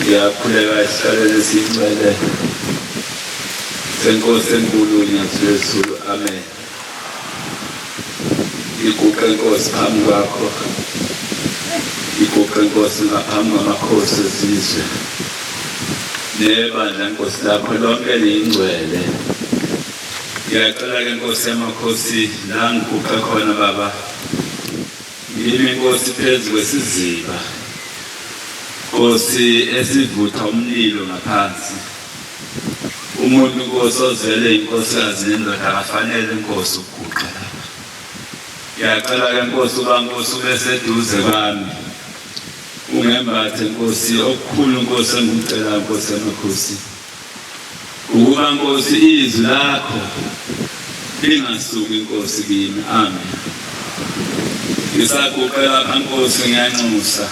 ngiyakhuleka isihlalele sincele senkosi enkulu nyathi lwezulu amen iguqe nkosi phambi kwakho iguqe nkosi ngaphambi kwamakhosi ezizwe nebandla nkosi lakho lonke liyingcwele ngiyacela ke nkosi yamakhosi la ngiguqe khona baba Ngime Nkosi phezu kwesiziba, Nkosi esivutha umlilo ngaphansi. Umuntu Nkosi ozele inkosikazi nendoda akafanele Nkosi ukuguqa lapha. Ngiyacela ke Nkosi uba Nkosi ube seduze kwami. Ungembathe Nkosi okukhulu Nkosi engikucela Nkosi emakhosi. Ukuba Nkosi izwi lakho lingasuki Nkosi kimi. Amen. Ngisaguqe lapha Nkosi ngiyanxusa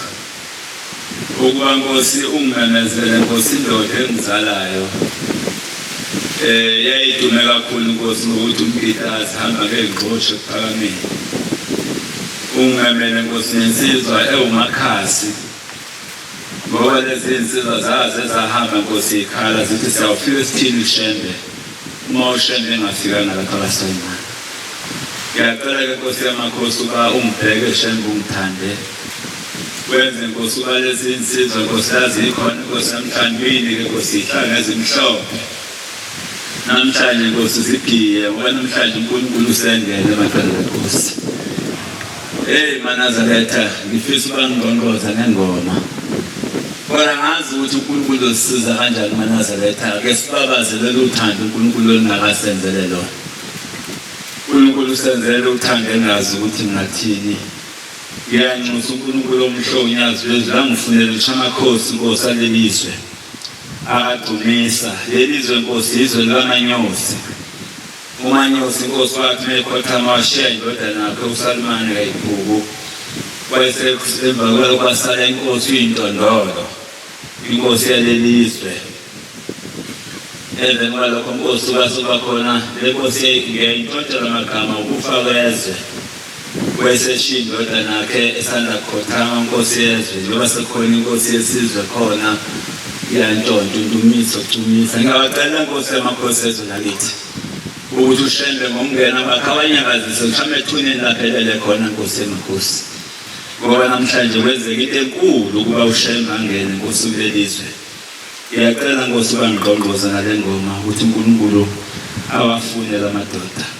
ukuba Nkosi ungimemezele Nkosi indoda engizalayo eh yayidume kakhulu Nkosi ngokuthi umpitazi hamba ke ngqoshe kuphakameni ungamele Nkosi nensizwa ewumakhasi Ngoba lezi nsizwa zaze zahamba nkosi ikhala zithi siyawufika esithini ushembe uma ushembe engafikanga lapha kasona ngiyacela ke nkosi yamakhosi uba ungibheke shembe ungithande wenze nkosi uba lezi nsizwa nkosi yazi ikhona nkosi yamhlambini ke nkosi ihlanga ezimhlophe namhlanje nkosi sigiye ngoba namhlanje unkulunkulu usengene emadodana nkosi eyi manazaretha ngifisa uba ngingqongqoza ngengoma kodwa ngazi ukuthi unkulunkulu uzisiza kanjani manazaretha ke sibabaze lolu thando unkulunkulu olungakasenzele lona unkulunkulu usenzele uthando engazi ukuthi ngathini ngiyanxusa unkulunkulu omhlonyazi lwezwi langifunela utshamakhosi nkosi alelizwe Abadumisa leli zwe Nkosi izwe likaManyosi. UManyosi Nkosi wakhe mekhothama washiya indodana yakhe uSalumane kayibhuku. Kwese emva kwalo kwasala inkosi uyintondolo. Inkosi yaleli zwe. Emveni kwalokho Nkosi kwase kwakhona le nkosi ngeyintshontshelwa amagama ukufa kwezwe. wayeseshiya indodana yakhe esanda kukhothama nkosi yezwe njengoba sekukhona inkosi yesizwe khona iyantshontsha undumiso ucumisa ngingabacela nkosi yamakhosi ezwe lakithi ukuthi ushembe ngomngena bakhe abanyakazise mhlawumbe ethuneni laphelele khona nkosi emakhosi ngoba namhlanje kwenzeka into enkulu ukuba ushembe angene nkosi kulelizwe ngiyacela nkosi ubangqongqoza ngale ngoma ukuthi unkulunkulu awafune la madoda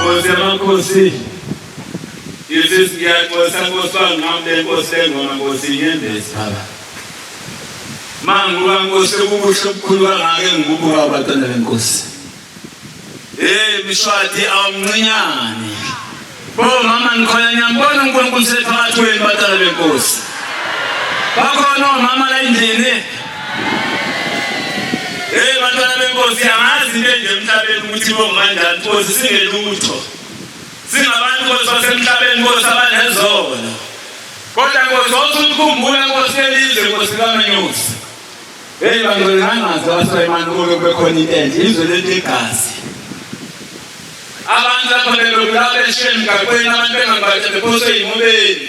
Nkosi yamakhosi Yesu ngiyaxolisa Nkosi bangihambe Nkosi lengoma Nkosi inyembezi baba Manguba Nkosi ukubuhle obukhulu kangaka engikubuka abatana benkosi Hey mshwadi awumncinyane Bo mama ngikhona ngiyambona uNkulunkulu sephakathi kwenu batana benkosi Bakhona omama la endlini Hey bantwana benkosi yamazi into enje emhlabeni ukuthi bongibanjani nkosi singelutho singabantu nkosi basemhlabeni nkosi abanezono kodwa nkosi wawusukukhumbula nkosi elizwe nkosi kamenyosi heyi bantu bengangazi abasoyimani kube kubekhona into enje izwe lento igazi abantu lapho bebebulawa beshiye emgaqweni abantu bengambathe bephoswe yimubeni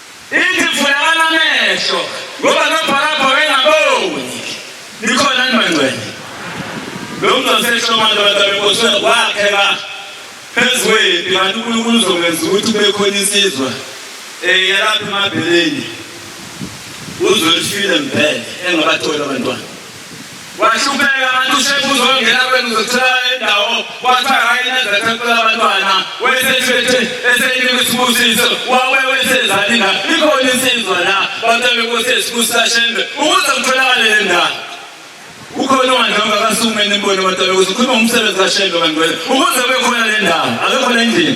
Ithi vulekani amehlo ngoba nobhalabha wayengaboni. Nikhona ni bangcwele? Lo mntu wasehlomane abantu abenkosi wakhela phezu kwempi kanti uNkulunkulu uzokwenza ukuthi kube khona insizwa um yalapha emabheleni uzolifile mpele engabatholi abantwana wahlupheka ngathi ushefu uzongena kwenu uzothola indawo kwathiwa hayi nezethempela abantwana wesethwethe esenika isibusiso wawe wesezalina ikhona insizwa la bantu bekosi esibusa shembe ukuze kutholakale le ndawo ukhona ongandlanga akasume nibone abantu bekosi ukhuluma umsebenzi kashembe kanti wena ukuze kube khona le ndawo akekho le ndini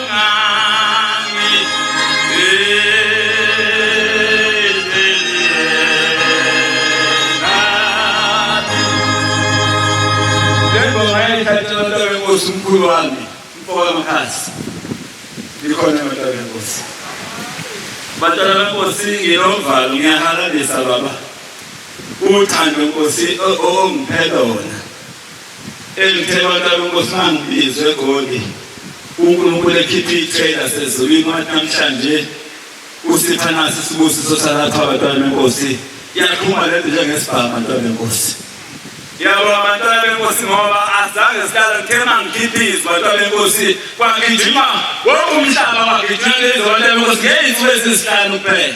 Nkosi mkhulu wami mfoka Mkhathi likhona abantwana benkosi bantwana benkosi nginovalo ngiyahalalisa baba uthando nkosi ongiphela wona Elithelwatala uNkosana Bizwe Goli, uNkulunkulu ekhipha iy'thela sezulwini wathi namhlanje usipha nasi isibusiso salapha abantwana benkosi yaqhuma le nto njengesibhamu abantwana benkosi yabo abantwana benkosi ngoba azange sihlala ngithe uma ngikhipha izwi abantwana benkosi kwagijima woke umhlaba wagijima lezi abantwana benkosi ngey'nsuku ezisihlanu kuphela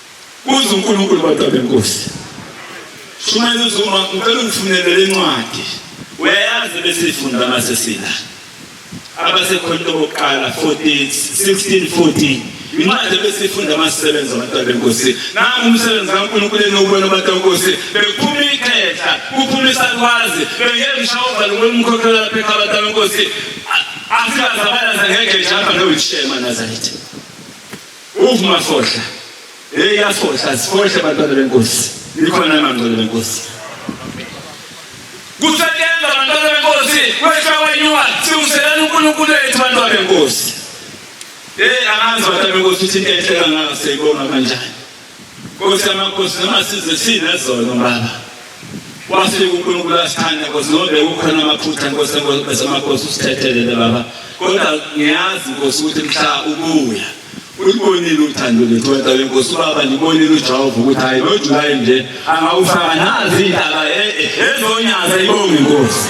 Kuze uNkulunkulu bantu abenkosi. Shumayela uZuma ngicela ungifunele le ncwadi. Uyayazi bese ifunda mase sila. Abasekhona bokuqala 14 16 14 incwadi bese ifunda amasebenza abantu abenkosi. Nangu umsebenzi kaNkulunkulu enokubona abantu abenkosi bephuma ikhehla kuphuma isalwazi bengelisha uvalo lomkhokhela lapha ekhaya abantu abenkosi. Asikazabalana ngeke jamba nowishema Nazareth. Uv mafohla. Hey yafohla sifohle abantwana benkosi. Likhona amangcwele benkosi. Kusebenza abantwana benkosi wesha wenyuwa siwuselana uNkulunkulu wethu abantwana benkosi. Hey angazi abantwana benkosi ukuthi enhle kangaka seyibonga kanjani. Nkosi yamakhosi noma size sinezona baba. Wafika uNkulunkulu asithanda Nkosi ngoba bekukhona amaphutha Nkosi bese amakhosi usithethelele baba kodwa ngiyazi Nkosi ukuthi mhla ubuya ulibonile uthando lethu wena wenkosi ubaba libonile ujehova ukuthi hayi nojulayi nje angawufaka nazi indaba e-, e-, ezonyaza ibonge inkosi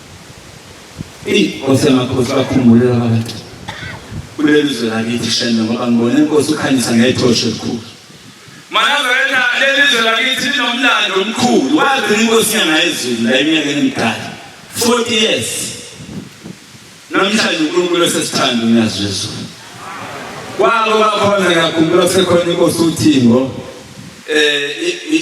Eyi Nkosi yamakhosi bakhumbulele abantu kuleli zwe lakithi shembe ngoba ngibona inkosi ukhanyisa ngethoshe elikhulu manazareta leli zwe lakithi linomlando omkhulu wazi inkosi yangayezulu la eminyakeni emidala 40 years namhlanje unkulunkulu esesithanda unyazi lwezulu kwabo bakhona ngiyakhumbula kusekhona inkosi uthingo um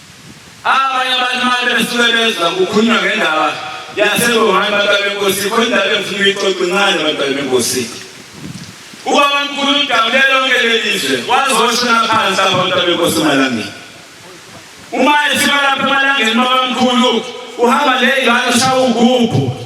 Abanye abantu uma besuke bezwa kukhulunywa ngendaba yaseWuhan bantwana benkosi, khona indaba engifuna uyixoxe incane bantwana benkosi. Ubaba mkhulu udabule lonke lelizwe wazoshona phansi lapha bantwana benkosi emalangeni. Uma efika lapha emalangeni baba mkhulu uhamba le ingane ushawa ugubhu.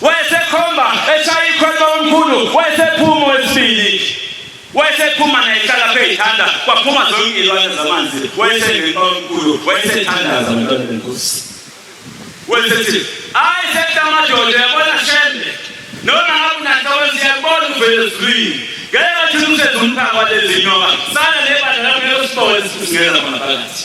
Wayesekhomba eshaya ikhwelo omkhulu, wayesephuma wesibili. Wayesephuma naye hlala phezithanda, kwaphuma zonke izilwane zamanzi. Wayesengena omkhulu, wayesethandaza abantwana benkosi. Wayesethi, "Hayi sekta amadoda, yabona shembe. Noma ngabe unanhloko siyabona uvele ezulwini. Ngeke wathi umsebenzi umphaka walezi nyoka. Sana nebandla lakho lelo sibone singena khona phakathi."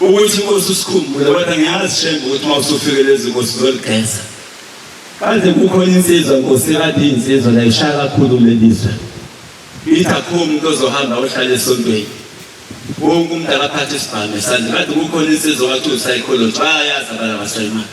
Ukuthi inkosi usikhumbule kodwa ngiyazi shembe ukuthi uma usufike lezi nkosi uzoligeza. Kanti kukhona insizwa nkosi kade insizwa la ishaya kakhulu lelizwe. Ithi akho umuntu ozohamba ohlala esontweni. Wonke umuntu akaphathe isibhamu esandla. Kade kukhona insizwa wathi usayikholotshwa ayazi abala basayimali.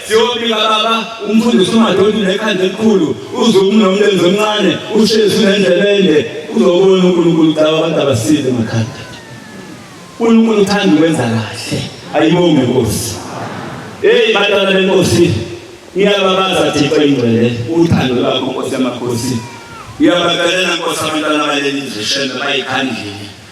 Siyobika baba umfundisi umadoti nekhanda elikhulu uzumu nomlenze omncane ushezi nendlebende uzobona unkulunkulu caba abantu abasile makhanda unkulunkulu uthanda ukwenza kahle ayibonge nkosi eyi bantwana benkosi ngiyababaza thixo ingcwele uthando lwakho nkosi yamakhosi ngiyabacelela nkosi abantwana baleli zishembe bayikhandlile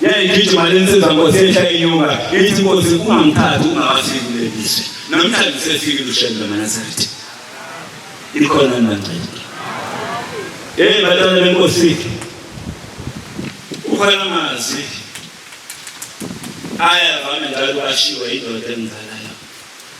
yayigijima le nsizwa nkosi yehla inyuka ithi nkosi ungangithathi ungawafiki kule lizwe namhlanje usefikile ushembe lwanazaretha ikhona nibangcele eyi batana benkosi ukhona amazwi ayavame njalo ashiwe indoda emzalayo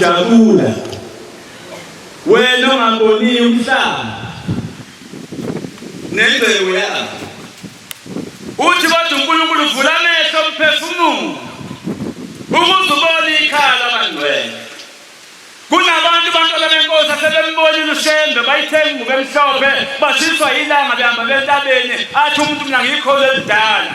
siyajabula wena ongaboniyo umhlaba nengcebo yakho Uthi kodwa uNkulunkulu vula amehlo omphefumulo ukuze ubone ikhaya labangcwele. Kunabantu bantwana benkosi asebembonile uShembe bayithenga ingubo emhlophe bashiswa yilanga behamba bentabeni athi umuntu mina ngiyikhola elidala.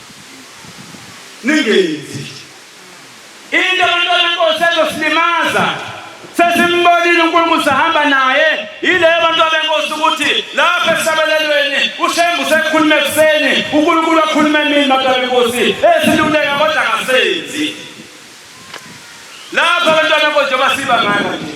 ningenzi into abantwana benkosi ezosilimaza sesimbonile unkulunkulu sahamba naye yileyo abantu abenkosi ukuthi lapho esabelelweni ushembu sekhulume ekuseni unkulunkulu akhulume emini bantu abenkosi esiluleka kodwa ngasenzi lapho abantwana benkosi njengoba siba ngana nje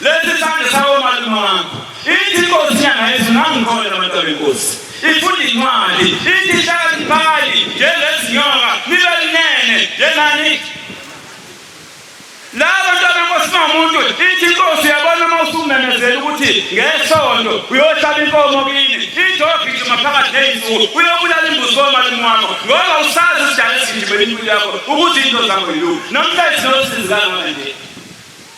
Lesi sandla sawo malume wakho. Ithi inkosi nyanga yethu nangikhona abantu benkosi. Ifunda incwadi, ithi hlakaniphani njengezinyoka, nibe linene njengani. La bantu benkosi mamuntu, ithi inkosi uyabona uma usumemezela ukuthi ngesonto uyohlaba inkomo kini, ithi ogijima phakathi ney'nsuku uyobulala imbuzi komalume wakho ngoba usazi isidala esigijimela impilo yakho ukuthi into zakho yiluku. Namhla izinosizi kangaka nje.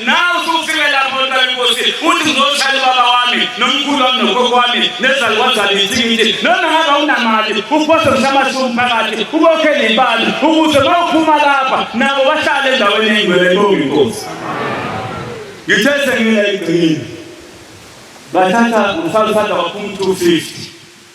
nawe usufike lapho mntwana inkosi uthi ngizoshaya ubaba wami nomkhulu wami nogogo wami nezalukwane zami ithikithi noma ngabe awunamali uphose mshamashumi phakathi ubokhele ibali ukuze uma uphuma lapha nabo bahlale endaweni eyingcwele ebonga inkosi ngithe sengingela igcini bathatha umfana usanda waphuma u-two fifty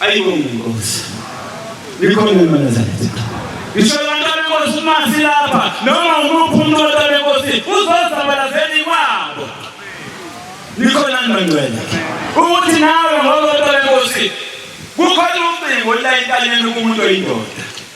Ayibonge inkosi. Likhona imanazaleti. Ngisho abantu abenkosi uma silapha noma umuphi umuntu wonke abenkosi uzozabalazela ikwabo. Likhona ngibangcwele. Ukuthi nawe ngoba abantu abenkosi kukhona ucingo olayintaleni kumuntu oyindoda.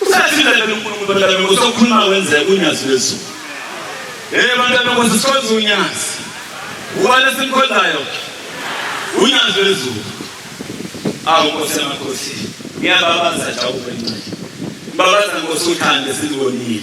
Usathile lapha uNkulunkulu bantwana benkosi okhuluma wenzeka unyazi lwezulu. Eh bantwana benkosi sikhonza unyazi. Ubani simkhonzayo? Unyazi lwezulu. Awu Nkosi yamakhosi. Ngiyababaza jawubencane. Babaza Nkosi uthande silibonile.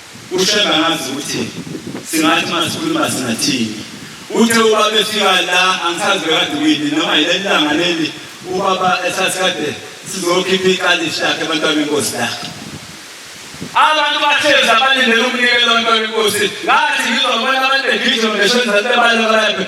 UShembe angazi ukuthi singathi uma sikhuluma singathini. Uthe ubaba efika la angisazi bekade kuyini noma yileli langa leli ubaba esasikade sizokhipha ikalishi lakhe abantwana benkosi lakhe. Abantu bahlezi abalindele umnikelo wabantwana benkosi ngathi ngizobona abantu begijima besho enzathi bebaleka balaphe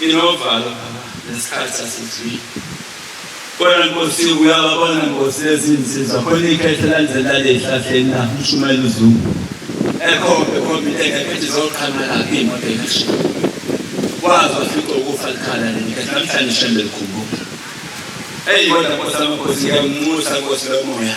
Inovalo nesikhathi asizwile. Kodwa Nkosi uyababona Nkosi lezinsizwa khona ikhethe lanzela lehlahleni na ushumela uzulu. Ekhombe khombe into engekho ethi zoqhamela imoto engashiya. Wazi wafica ukufa likhala leli khethe namhlanje shembe likhumbuka. Eyi kodwa Nkosi amakhosi ngiyakunxusa Nkosi lomoya.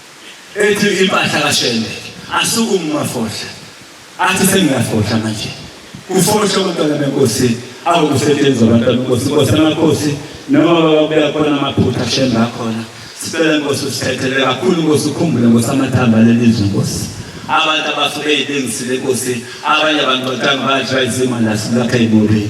ethi impahla kaShembe asukume uMafohla athi sengiyafohla manje kufohla umntwana benkosi awukusetshenzwa abantwana benkosi inkosi amakhosi noma bakubuya khona amaphutha Shembe akhona sicela inkosi usithethele kakhulu inkosi ukhumbule inkosi amathamba lelizwe inkosi abantu abasuke eyilengisile inkosi abanye abantu batanga badla izimo la silapha ebubi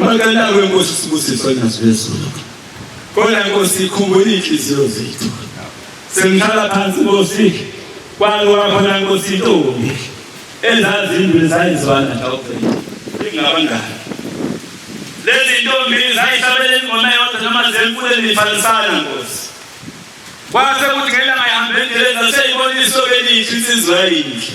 Bacela kwenkosi sibusiso ngazwezulu. Kodwa inkosi ikhumbula inhliziyo zethu. Sengihlala phansi inkosi kwalo wakhona inkosi intombi ezazi indwe zayizwana tawuphela. Ingabangani. Lezi ntombi zayihlabela ingoma yodwa noma zemfule nifanisana inkosi. Kwase kuthi ngelanga ihambeni lezi zaseyibona isoke elihle insizwa yinhle.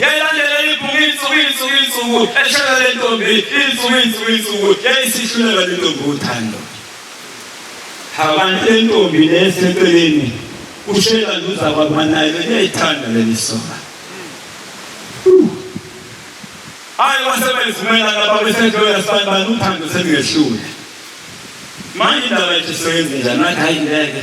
yayilandela insuku insuku insuku insuku eshela le ntombi insuku insuku insuku yayisihluleka le ntombi uthando abantu le ntombi neseceleni ushela nduza kwabanayo liyayithanda leli soka hayi wasebezivumela lapha besendoya sibani bani uthando selingehlule manje indaba yethu sisebenze njani nathi hayi ngeke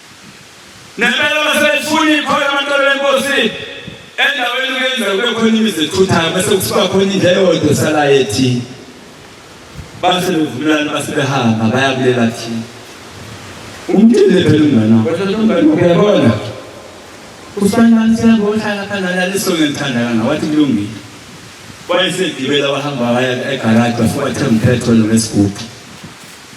Nempela uma selifuna ikhoyo amantobe lenkosi endaweni kuyenza kube khona imizi ethuthayo bese kusuka khona indlela eyodwa esalayo ethini base bevumelana base behamba bayakulela thina umtile phela umngane wakho kodwa umngane wakho uyabona usibanibani siyabohlala phana laleso ngithanda kanga wathi kulungile wayesegibela wahamba waya egaraji wafika wathenga umphetholo ngesigubhu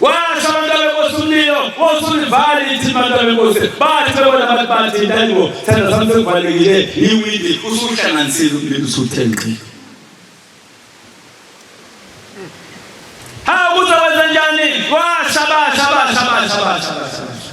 Washo abantu abenkosi umlilo osulivale ithimba abantu abenkosi bathi bebona abantu bathi intango thanda sami sekuvalekile yiwindi usuhlanganisile umlilo usuthe ngqi ha kuzokwenza njani washa basha basha basha basha basha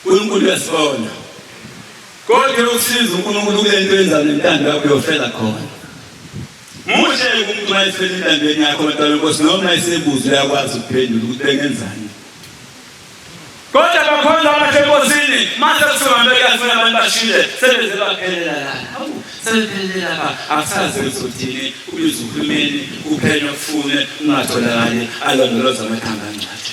Nkulunkulu uyasibona. Kodwa yokusiza uNkulunkulu kule nto yenza nentando yakho yofela khona. Muhle umuntu uma efela intandweni yakho kodwa lenkosi noma esebuza uyakwazi ukuphendula ukuthi bengenzani. Kodwa bakhonza abakhe enkosini mase kusuhambe kuyafuna abantu bashile sebeze baphelela lana. Hawu sebephelela ba akusazi uzothini ubiza uhulumeni uphenya ufune ungatholakali alondoloza amathanga angcwathi.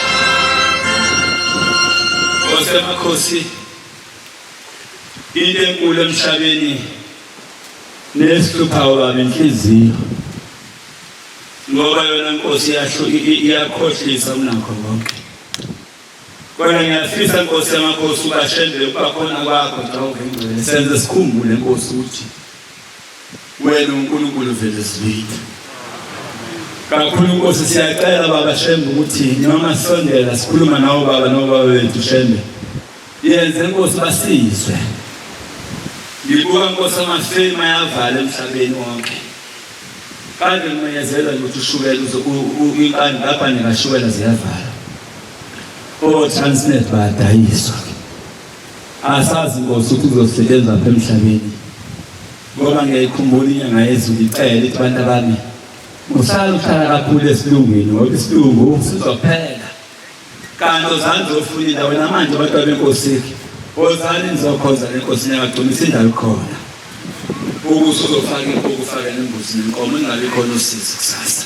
osemakhosi into enkulu emhlabeni nesihluphayo baba inhliziyo ngoba yona inkosi yasho iyakhohlisa kunakho konke kodwa ngiyafisa inkosi yamakhosi ubashembele ukuba khona kwakho xa uvengcwele senze sikhumbule inkosi ukuthi Wena uNkulunkulu vele zibitha. Kakhulu Nkosi siyacela baba Shembe ukuthi noma sisondela sikhuluma nawo baba nobaba wethu Shembe. Yenze Nkosi basizwe. Ngibuka Nkosi amafema yavala emhlabeni wonke. Kade ngimenyezela ukuthi ushukela inkani lapha ngashukela ziyavala. O Transnet badayiswa. Asazi Nkosi ukuthi kuzosebenza lapha emhlabeni. Ngoba ngiyayikhumbula inyanga yezulu icela ithi abantu abami uhlala uhlala kakhulu esilungwini ngoba isilungu sizophela. Kanti ozani zofuna indawo namanje abantu abenkosi ozani nizokhoza lenkosi niyagcumisa indawo khona. Ukuze uzofaka inkukhu ufake nembuzi nenkomo ingabe khona usizi kusasa.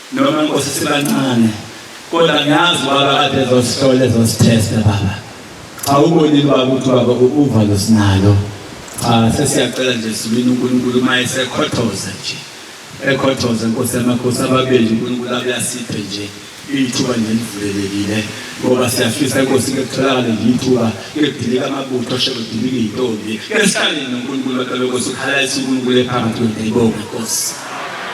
Noma Nkosi sibancane kodwa ngiyazi baba kade zosihlola zosithesta baba. Cha ubonile baba ukuthi baba uva losinalo. Cha sesiyacela nje sibini uNkulunkulu uma esekhothoza nje. Ekhothoza Nkosi yamakhosi ababeli uNkulunkulu abuyasiphe nje ithuba nje livulelekile ngoba siyafisa Nkosi kutholakale ithuba kudilika amabutho asho kudilika izintombi. Esihlale noNkulunkulu kodwa lokho sikhala isiNkulunkulu ephakathi kwethu ibonga Nkosi.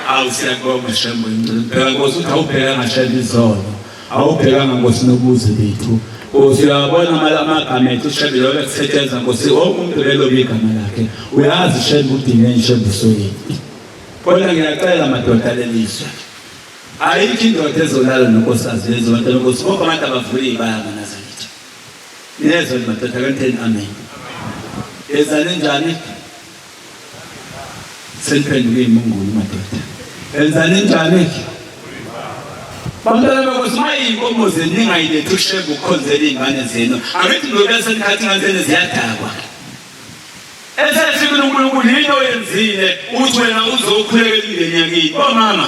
awu siyakubonga shembe ngicela phela nkosi uthi awubheka ngashela izolo awubhekanga nkosi nobuze bethu nkosi uyabona amagama ethu shembe yoke kusetshenzwa nkosi wonke umuntu belobe igama lakhe uyazi shembe udingeni shembe soyini kodwa ngiyacela madoda lelizwe ayikho indoda ezolala nonkosazi lezonto nonkosi bonke abantu abavule iy'baya manazalitha niyezwa madoda kanitheni amen ezani njani Seliphenduke imungulu madoda. Enzani njani ke? Bantwana bakuthi uma iy'nkomo zenu ningayilethi ushembe ukukhonzela iy'ngane zenu angithi ngizobe senikhathi ingane zenu ziyadakwa esehlukile unkulunkulu yini oyenzile ukuthi wena uzokhulekela imndeni yakini bomama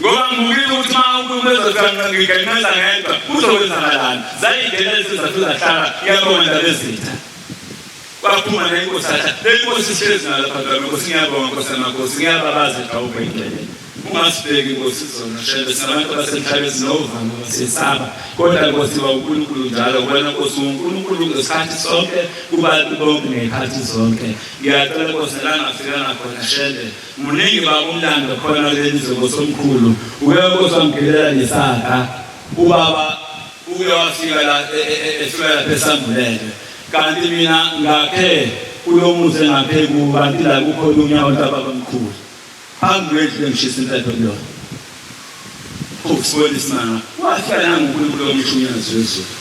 ngoba ngibukile ukuthi uma umuntu ezofika ngiganqeza ngedwa kuzokwenzakalani zayingena lezizathu zahlala iyabonga ndaba ezitha kwaphuma nenkosi atha le nkosi ihlezi nalapha ndaba nkosi ngiyabonga nkosi amakhosi ngiyababaza ejawuba indlela ungasibheki nkosi izona shebe sinabantu abasemhlabeni sinovama basesaba kodwa nkosi ba unkulunkulu njalo wena nkosi unkulunkulu ngesikhathi sonke kubantu bonke ngey'khathi zonke ngiyacela nkosi la ngafikanga khona shebe Muningi baba umlando khona lenze ngosomkhulu uke kosamgelela nesaka ubaba uke wafika la e, e, e, efika lapha esambulele kanti mina ngakhe kulomuzi engakhe kubanti la kukhona unyawo ntababamkhulu phambi kwendlu engishisa impepho kuyona Ukusibona isimanga wafika nanguNkulunkulu omshunyayezi wezulu.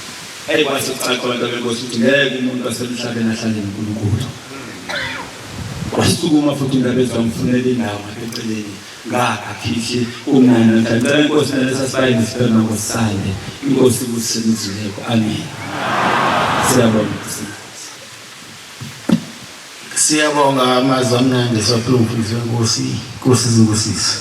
Eyi kwase kucaca abantu abenkosi ukuthi ngeke umuntu wasemhlabeni ahlale noNkulunkulu. Wasukuma futhi uNdabezi wamfunela indawo ngaseceleni ngakha khihli kumnandi namhlanje. Ngicela inkosi nalesa sibayeni sibhema ngosale. Inkosi ikusinizuleko. Amen. Siyabonga. Siyabonga amazwi amnandi sophuzu zenkosi Nkosi zibusise.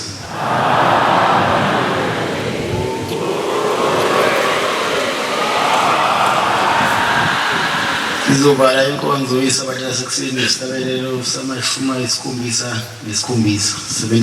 Sizovala inkonzo isabatha sekuseni nesihlabelelo samashumi ayisikhombisa nesikhombisa.